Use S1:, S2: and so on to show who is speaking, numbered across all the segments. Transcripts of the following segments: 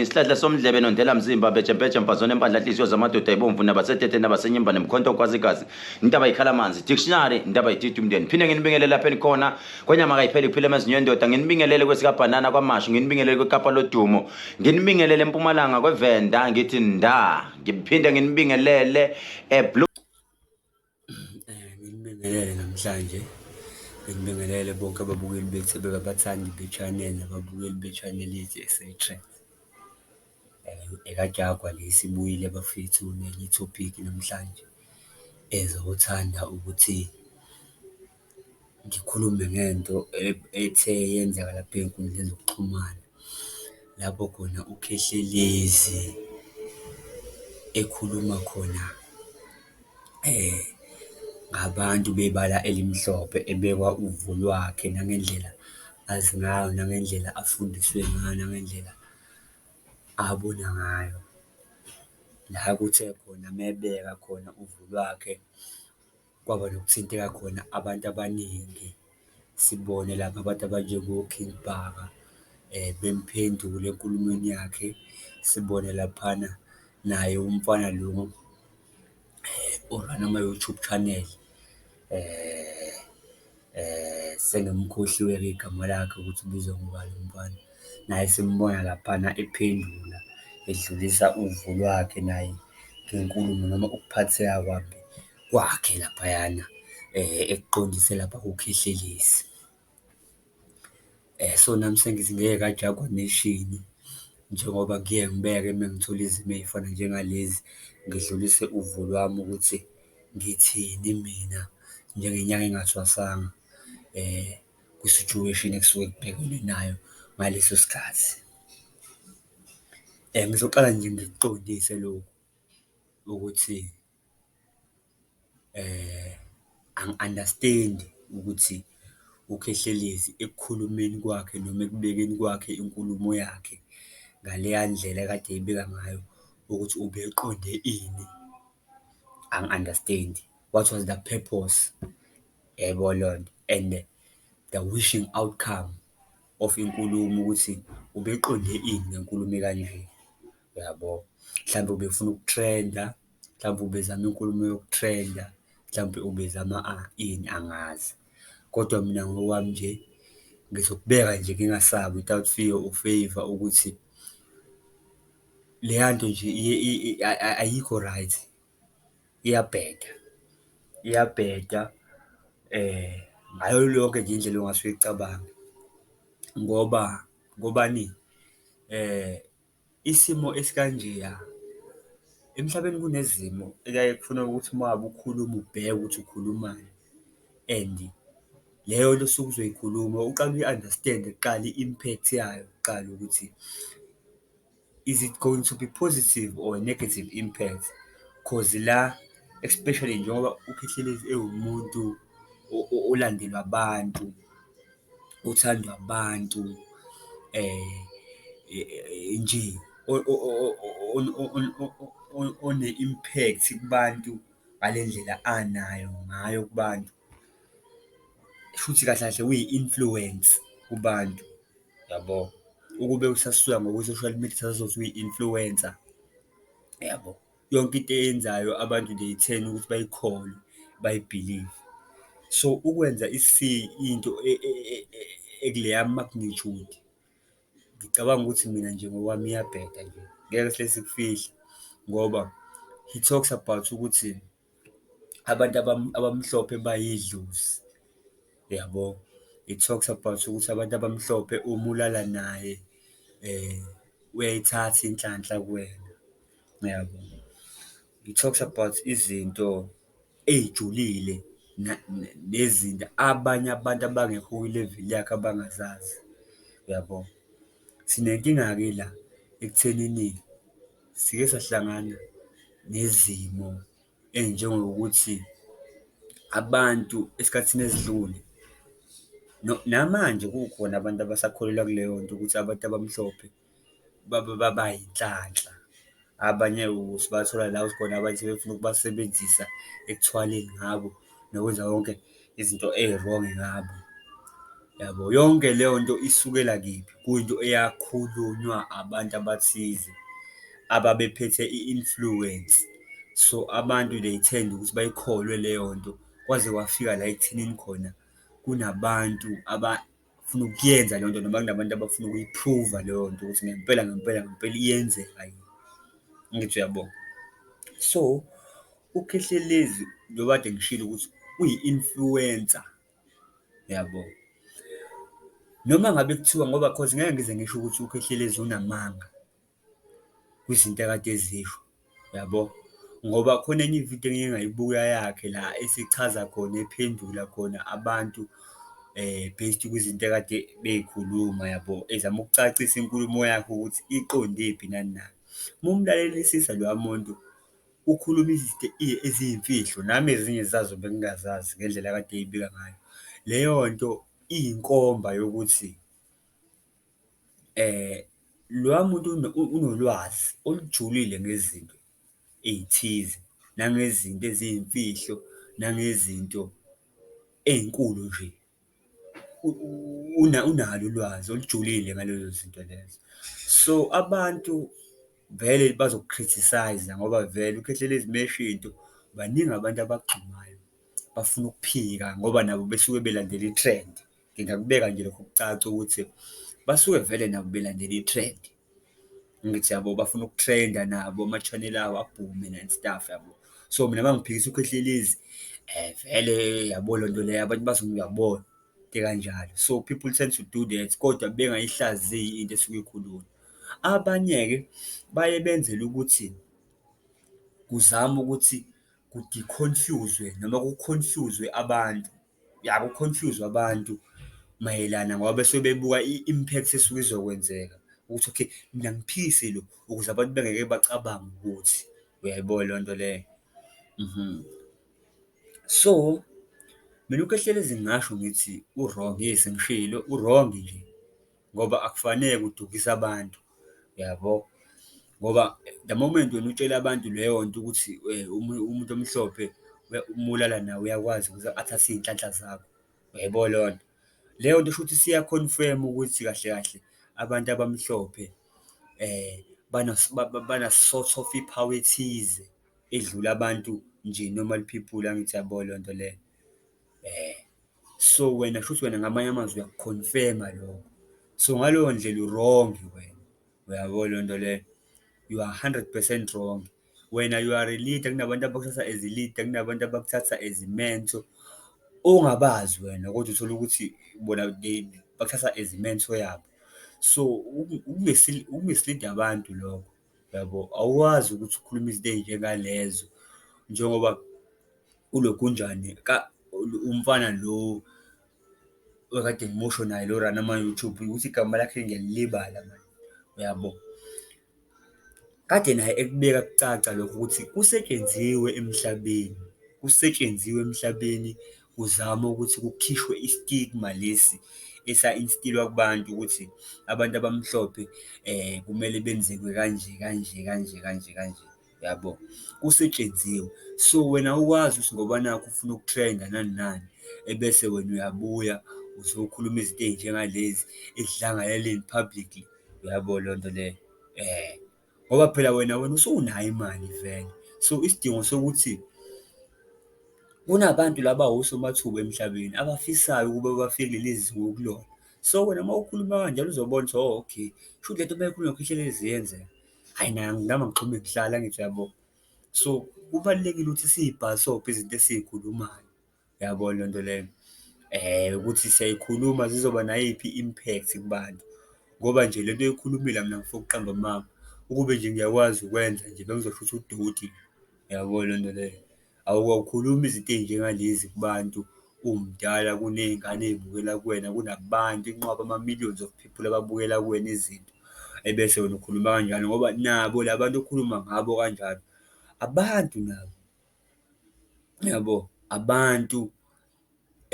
S1: Isihlahla somdlebe nondlela mzimba bejempeje mfazone empandla nhliziyo zamadoda ibomvu nabasetete nabasenyimba nemkhonto okwazi igazi intaba ikhala amanzi dictionary intaba ititi umndeni phinde nginibingelele lapho enikhona kwenyama kayipheli kuphila emezinyo endoda nginibingelele kwesikabhanana kwamashu nginibingelele kwekapa lodumo nginibingelele empumalanga kwevenda ngithi nda ngiphinde nginibingelele eblue eh,
S2: Nginibingelele namhlanje, nginibingelele bonke ababukeli bethu abathandi be-channel, nababukeli be-channel yethu eseyiqala. EkaJaguar le isibuyile bafethu nenye ithopikhi namhlanje ezothanda ukuthi. ngikhulume ngento ethe yenzeka lapha ey'nkundleni zokuxhumana, lapho khona uKhehlelezi ekhuluma khona ngabantu bebala elimhlophe, ebeka uvo lwakhe nangendlela azi ngayo, nangendlela afundiswe ngayo, nangendlela abona ngayo. La kuthe khona uma ebeka khona uvo lwakhe. Kwaba nokuthinteka khona abantu abaningi, sibone lapha abantu abanjengoKing Bhaka bemphendula enkulumeni yakhe. Sibone laphana naye umfana lo o-run-a ama-YouTube channel, sengimkhohliwe-ke igama lakhe ukuthi ubizwa ngobani lo mfana. Naye simbona laphana ephendula, edlulisa uvo lwakhe naye ngenkulumo noma ukuphatheka kwakhe. kwakhe laphayana ekuqondise lapha kuKhehlelezi. So, nami sengithi ngeke ajagwe ameshini njengoba ngiye ngibeke uma ngithola izimo ey'fana njengalezi, ngidlulise uvo lwami ukuthi ngithini mina njengenyanga engathwasanga kwi-situation ekusuke kubhekwene nayo ngaleso sikhathi. Ngizoqala nje ngikuqondise lokhu ukuthi. angi-understand-i ukuthi uKhehlelezi ekukhulumeni kwakhe noma ekubekeni kwakhe inkulumo yakhe ngaleya ndlela ekade eyibeka ngayo ukuthi ubeqonde ini, angi-understand-i, what was the purpose? Yayibona leyo nto and the wishing outcome. of inkulumo ukuthi ubeqonde ini ngenkulumo ekanje, uyabo? Mhlampe ubefuna uku-trend-a, mhlampe ubezama inkulumo yoku-trend-a, mhlampe ubezama ini angazi. Kodwa mina ngokwami nje ngizokubeka nje ngingasabi without fear or favour ukuthi leya nto nje ayikho right. iyabheda, iyabheda ngayo yonke nje indlela ongase uyicabange ngoba ngobani? Isimo esikanjeya, emhlabeni kunezimo ekuyaye kufune ukuthi uma ngabe ukhuluma ubheke ukuthi ukhulumani and leyo nto osuke uzoyikhuluma uqale uyi-understand-e kuqala i-impact yayo kuqala ukuthi Is it going to be positive or negative impact cause la especially njengoba uKhehlelezi ewumuntu olandelwa abantu, othandwa abantu nje one-impact kubantu ngale ndlela anayo ngayo kubantu. Shuthi kahle kahle uyi-influence kubantu yabo, ukube usasuka ngokwe-social media sazothi uyi-influencer yabo. Yonke into eyenzayo abantu they turn ukuthi bayikholwe bayibhilive. So, ukwenza into ekuleya magnitude ngicabanga ukuthi mina nje ngokwami iyabheda nje ngeke sihle sikufihla ngoba he talks about ukuthi. abantu abamhlophe bayidlozi, uyabo? It talks about ukuthi abantu abamhlophe uma ulala naye uyayithatha inhlanhla kuwena, uyabo? It talks about izinto ey'julile nezinto abanye abantu abangekho kwileveli yakhe abangazazi, uyabo? Sinenkinga-ke la ekuthenini. Sike sahlangana nezimo ey'njengokuthi abantu esikhathini esidlule namanje kukhona abantu abasakholelwa kuleyo nto ukuthi abantu abamhlophe bayinhlanhla. Abanye sibathola la khona abanye sebefuna ukubasebenzisa ekuthwaleni ngabo nokwenza konke. izinto eyi-wrong ngabo, yabo? Yonke leyo nto isukela kephi? Kuyinto eyakhulunywa abantu abathize ababephethe i-influence. So, abantu they tend ukuthi bayikholwe leyo nto kwaze kwafika la ekuthenini khona kunabantu . funa ukuyenza leyo nto noma kunabantu abafuna ukuyiphruva leyo nto ukuthi ngempela ngempela ngempela iyenzeka yini, angithi uyabona. So, uKhehlelezi njengoba kade ngishilo ukuthi uyi-influencer, uyabo? Noma ngabe kuthiwa ngoba cause ngeke ngize ngisho ukuthi uKhehlelezi unamanga. kwizinto akade ezisho, yabo. Ngoba khona enye ividiyo engike ngayibuka yakhe la esechaza khona, ephendula khona abantu based kwizinto ekade bey'khuluma, yabo, ezama ukucacisa inkulumo yakhe ukuthi iqondephi nani na. Uma umlalelisisa loya muntu, ukhuluma izinto eziyimfihlo, nami ezinye zazo bengingazazi ngendlela akade eyibika ngayo. Leyo nto iyinkomba yokuthi Loya muntu unolwazi olujulile ngezinto ey'thize, nangezinto eziyimfihlo, nangezinto ey'nkulu nje. Unalo ulwazi olujulile ngalezo zinto lezo. So, abantu vele bazoku-criticise-a ngoba vele uKhehlelezi uma esho into, baningi abantu abagxumayo, bafuna ukuphika ngoba nabo besuke belandela i-trend. ngingakubeka nje lokho kucaca ukuthi basuke vele nabo belandela i-trend. Angithi yabo bafuna uku-trend-a nabo ama-channel abo abhume and stuff yabo. So, mina uma ngiphikisa uKhehlelezi vele yabo le nto leyo abantu bazongiyabona into ekanjalo. So, people tend to do that kodwa bengayihlaziyi into esuke ikhulunywa. Abanye-ke baye benzele ukuthi kuzame ukuthi ku-deconfuse-zwe noma ku-confuse-zwe abantu. ya ku confuse abantu mayelana ngoba besuke bebuka i-impact esuke izokwenzeka ukuthi okay mina ngiphikise lo ukuze abantu bengeke bacabange ukuthi uyayibo leyo nto leyo. So, mina uKehlelezi ngingasho ngithi u-wrong yes ngishilo u-wrong nje ngoba akufanele kudukise abantu, uyabo? Ngoba the moment wena utshela abantu leyo nto ukuthi umuntu omhlophe uma ulala naye uyakwazi ukuthi athathe iy'nhlanhla zakho, uyaybo leyo nto? Leyo nto shuthi isiya-confirm-a ukuthi kahle kahle abantu abamhlophe bana-sort of i-power ethize edlula abantu nje normal people, angithi uyabo leyo nto leyo . So wena shuthi wena ngamanye amazwi uyakukhonfema lokho. So ngaleyo ndlela u-wrong wena. Uyabo leyo nto leyo? You are 100 percent wrong. Wena you are a leader, kunabantu abakuthatha as a leader, kunabantu abakuthatha as i-mentor ongabazi wena kodwa uthole ukuthi bona bakuthatha as i-mentor yabo. So uku-mislead-a abantu lokho. Yabo, awukwazi ukuthi ukhulume izinto ey'njengalezo njengoba uLogunjane umfana lo okade ngimusho naye lo run ama-YouTube ukuthi igama lakhe ngiyalilibala mani, uyabo. Kade naye ekubeka kucaca lokho ukuthi kusetshenziswe emhlabeni, kusetshenziwe emhlabeni kuzama ukuthi kukhishwe i-stigma lesi esa-instill-wa kubantu ukuthi abantu abamhlophe kumele benzekwe kanje, kanje, kanje, kanje, kanje, yabo? Kusetshenziwe. So, wena awukwazi ukuthi ngoba nakhu ufuna ukutrenda nani nani, ebese wena uyabuya uzokhuluma izinto ey'njengalezi, ekudlangalaleni publicly, uyabo leyo nto leyo? ngoba phela wena wena usunayo imali vele. So, isidingo sokuthi kunabantu laba osomathuba emhlabeni abafisayo ukuba bafinyelele lezi zinga okulona. So, wena uma ukhuluma kanjalo uzobona ukuthi hho, okay, kushuthi le nto uma eyikhuluma cishe ihlezi isiyenzeka. Hhayi, nayi angizange ngixhume kuhlale, angithi uyabo? So, kubalulekile ukuthi siyibhasobhe izinto esiyikhulumayo. Uyabo leyo nto leyo ukuthi siyayikhuluma zizoba nayiphi i-impact kubantu, ngoba nje le nto oyikhulumile mina ngifuna ukuqamba amanga ukube nje ngiyakwazi ukwenza nje bengizosho ukuthi udoti, uyabo leyo nto leyo. Awukhulumi izinto ey'njengalezi kubantu uwumdala kuney'ngane ey'bukela kuwena, kunabantu inqwaba ama-millions of people ababukela kuwena izinto, ebese wena ukhuluma kanjalo ngoba nabo la bantu okhuluma ngabo kanjalo abantu nabo. yabo abantu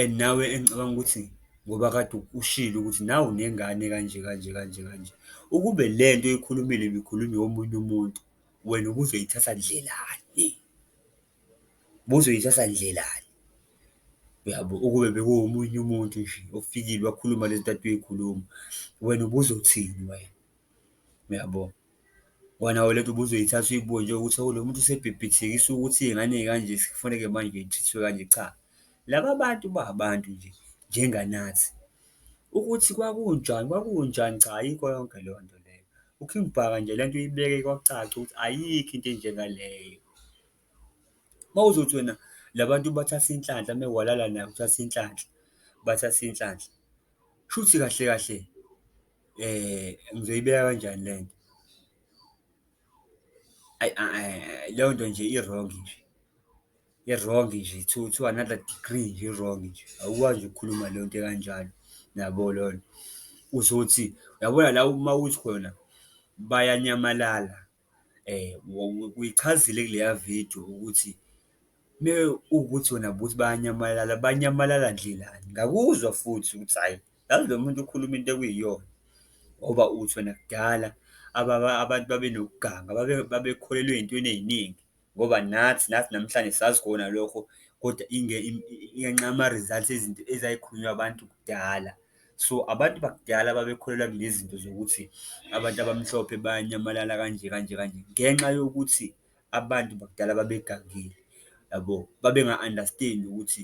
S2: and nawe engicabanga ukuthi ngoba kade ushilo ukuthi nawu nengane kanje kanje kanje kanje, ukube le nto oyikhulumile ibikhulunywa omunye umuntu wena ubuzoyithatha ndlelani? Ubuzoyithatha ndlelani? Uyabo? Ukube bekuwomunye umuntu nje ofikile wakhuluma le zinto kade uyikhuluma wena ubuzothini wena? Uyabo? Wena we lento ubuzoyithatha uyibuke nje ukuthi hawu lo muntu usebhebhethekisa ukuthi iy'ngane ey'kanje sekufuneke manje y'thrithwe kanje, cha. Laba bantu ba abantu nje njenganathi. Ukuthi kwakunjani, kwakunjani cha ayikho yonke leyo nto leyo. UKing Bhaka nje lento uyibeke kwacaca ukuthi ayikho into enjengaleyo. Uma uzothi wena la bantu bathatha inhlanhla uma walala naye uthatha inhlanhla, bathatha inhlanhla, shuthi kahle kahle. Ngizoyibeka kanjani le nto? Ayi leyo nto nje i-wrong nje, i-wrong nje to to another degree nje i-wrong nje, awukwazi nje ukukhuluma leyo nto ekanjalo, yabo leyo nto. Uzothi, uyabona la uma uthi khona bayanyamalala Uyichazile kuleya vidiyo ukuthi mewukuthi wena buthi bayanyamalala, banyamalala ndlelani? Ngakuzwa futhi ukuthi hhayi, yazi lo muntu ukhuluma into ekuyiyona ngoba uthi wena kudala abantu babenokuganga, babekholelwa ey'ntweni ey'ningi. Ngoba nathi nathi namhlanje sazi kona lokho kodwa ngenxa yama-results ezinto ezayikhulunywa abantu kudala. So, abantu bakudala babekholelwa kulezi zinto zokuthi abantu abamhlophe bayanyamalala kanje kanje kanje ngenxa yokuthi abantu bakudala babegangile, yabo? Babenga-understand-i ukuthi.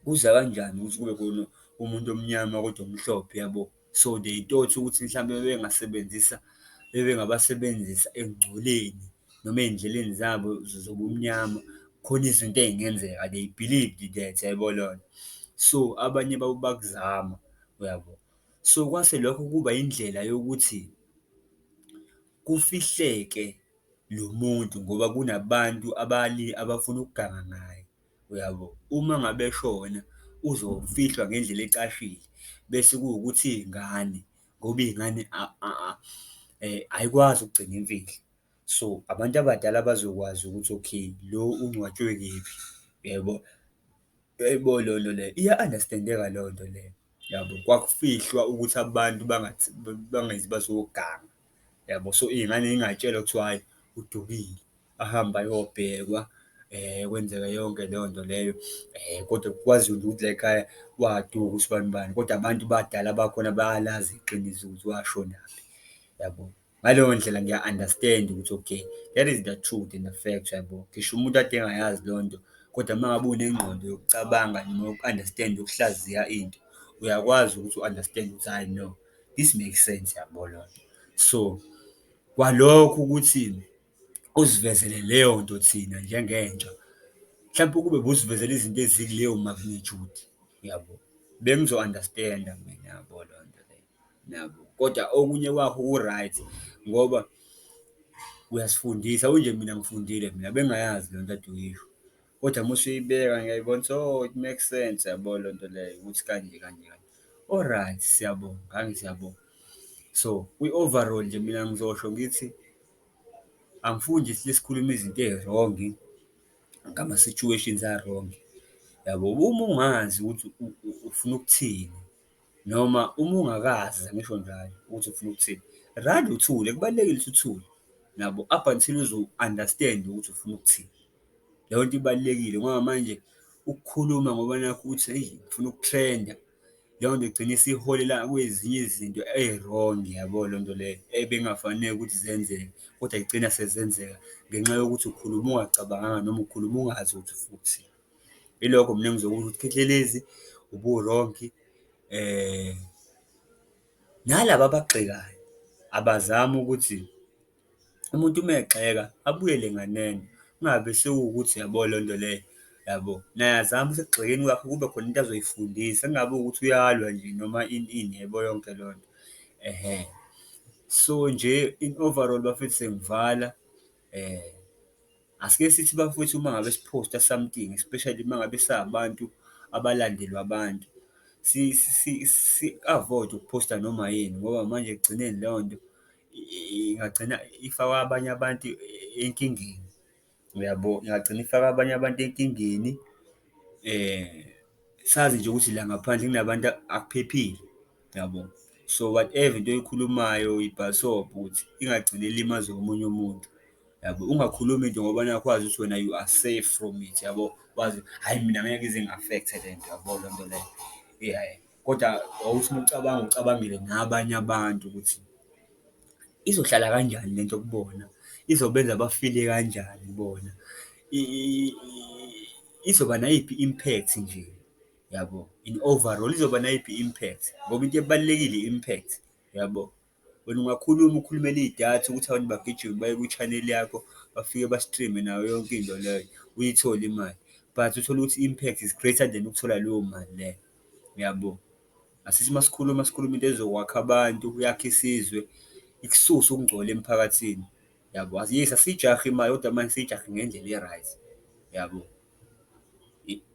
S2: Kuza kanjani ukuthi kube khona umuntu omnyama kodwa omhlophe yabo? So, they thought ukuthi mhlawumbe bebengasebenzisa, bebengabasebenzisa ekungcoleni noma ey'ndleleni zabo zobumnyama, khona izinto ey'ngenzeka, they believed that, yabo leyo nto. So, abanye babo bakuzama, uyabo? So, kwase lokho kuba indlela yokuthi kufihleke lo muntu ngoba kunabantu abafuna ukuganga ngaye. Uyabo? Uma ngabe eshona uzofihlwa ngendlela ecashile bese kuwukuthi iy'ngane ngoba iy'ngane ayikwazi ukugcina imfihlo. So, abantu abadala bazokwazi ukuthi okay, lo ungcwatshwe kephi, uyabo? Yebo, leyo nto leyo iya-understand-eka leyo nto leyo, uyabo? Kwakufihlwa ukuthi abantu bangazi bazoganga. yabo so iy'ngane yingatshelwa kuthiwa hhayi udukile ahambe ayobhekwa eh kwenzeka yonke leyo nto leyo eh kodwa kwaziwa ukuthi la ekhaya waduka usibani bani kodwa abantu badala bakhona bayalazi iqiniso ukuthi washonaphi yabo ngaleyo ndlela ngiya-understand ukuthi okay that is the truth and the fact yabo ngisho umuntu ade engayazi leyo nto kodwa uma ngabe unengqondo yokucabanga noma yoku-understand ukuhlaziya into uyakwazi ukuthi u-understand ukuthi hhayi no This make sense yabo lona. So kwalokho ukuthi usivezele leyo nto thina njengentsha mhlawumpe ukube busivezela izinto ezikuleyo magnitude yabo bengizo-understanda mina yabo loo nto leyo nabo kodwa okunye kwakho ku-right ngoba uyasifundisa unje mina ngifundile mina bengingayazi loo nto ade uyisho. Kodwa uma usuyibeka ngiyayibona ukuthi oh it makes sense, yabo le nto leyo ukuthi kanje kanje kanje. Oryt siyabonga, ngangithi siyabonga. So kwi-overall nje mina ngizosho ngithi angifuni nje sithi sikhulume izinto ezirongi ngama-situations arongi yabo. Uma ungazi ukuthi ufuna ukuthini. Noma uma ungakaze angisho njalo ukuthi ufuna ukuthini, rather uthule, kubalulekile ukuthi uthule nabo up until uze u-understand-e ukuthi ufuna ukuthini. Leyo nto ibalulekile ngoba manje ukukhuluma ngoba nakhu uthi eyi ngifuna ukutrenda, leyo nto igcine isiholela kwezinye izinto ezi-wrong, yabo leyo nto leyo ebekungafanele ukuthi zenzeke kodwa zigcina sezenzeka ngenxa yokuthi ukhuluma ungacabanganga noma ukhuluma ungazi ukuthi ufuna ukuthini. Ilokho mina engizokusho ukuthi Khehlelezi uburongi, nalaba abagxekayo abazame ukuthi umuntu uma egxeka abuyele nganeno, kungabe sekuwukuthi uyabo leyo nto leyo, yabo? Naye azame ukuthi ekugxekeni kwakhe kube khona into azoyifundisa, kungabi ukuthi uyalwa nje noma ini ini, yabo yonke leyo nto? Ehhe. So, nje in overall bafethu sengivala . Asike sithi bafwethu uma ngabe siphosta something especially uma ngabe sabantu abalandelwa abantu, si-avoid-e ukuphosta noma yini ngoba manje ekugcineni leyo nto ingagcina ifaka abanye abantu enkingeni, uyabo? Ingagcina ifaka abanye abantu enkingeni, sazi nje ukuthi la ngaphandle kunabantu akuphephile. yabo. So, whatever into oyikhulumayo uyibhasobha ukuthi ingagcine ilimaze omunye umuntu, yabo. Ungakhulumi into ngoba nakhu wazi ukuthi wena you are safe from it, yabo. Wazi hhayi mina ngeke ize ingi-affect-e le nto, yabo loo nto leyo. Hhayi, kodwa wawuthi uma ucabanga ucabangele nabanye abantu ukuthi izohlala kanjani le nto kubona, izobenza bafile kanjani bona, izoba nayiphi i-impact nje. yabo, in overall izoba nayiphi i-impact ngoba into ebalulekile i-impact yabo. Wena ungakhuluma ukhulumele iy'datha ukuthi abantu bagijime baye ku-channel yakho bafike ba-stream-e nayo yonke into leyo uyithole imali but uthole ukuthi i-impact is greater than ukuthola leyo mali leyo, yabo. Asithi uma sikhuluma sikhuluma into ezokwakha abantu, yakhe isizwe, ikususe ukungcola emphakathini yabo. Yes, asiyijahi imali kodwa manje siyijahe ngendlela e-right, yabo.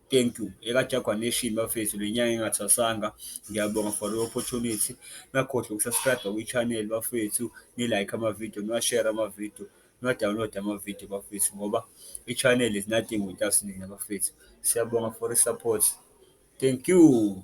S2: Thank you. EkaJaguar Nation bafethu le nyanga engathwasanga. Ngiyabonga for the opportunity. Ningakhohlwa uku-subscribe-a kwi-channel bafethu, ni-like ama-video, niwa-share ama-video, niwa-download ama-video bafethu ngoba i-channel is nothing without nina bafethu. Siyabonga for the support. Thank you.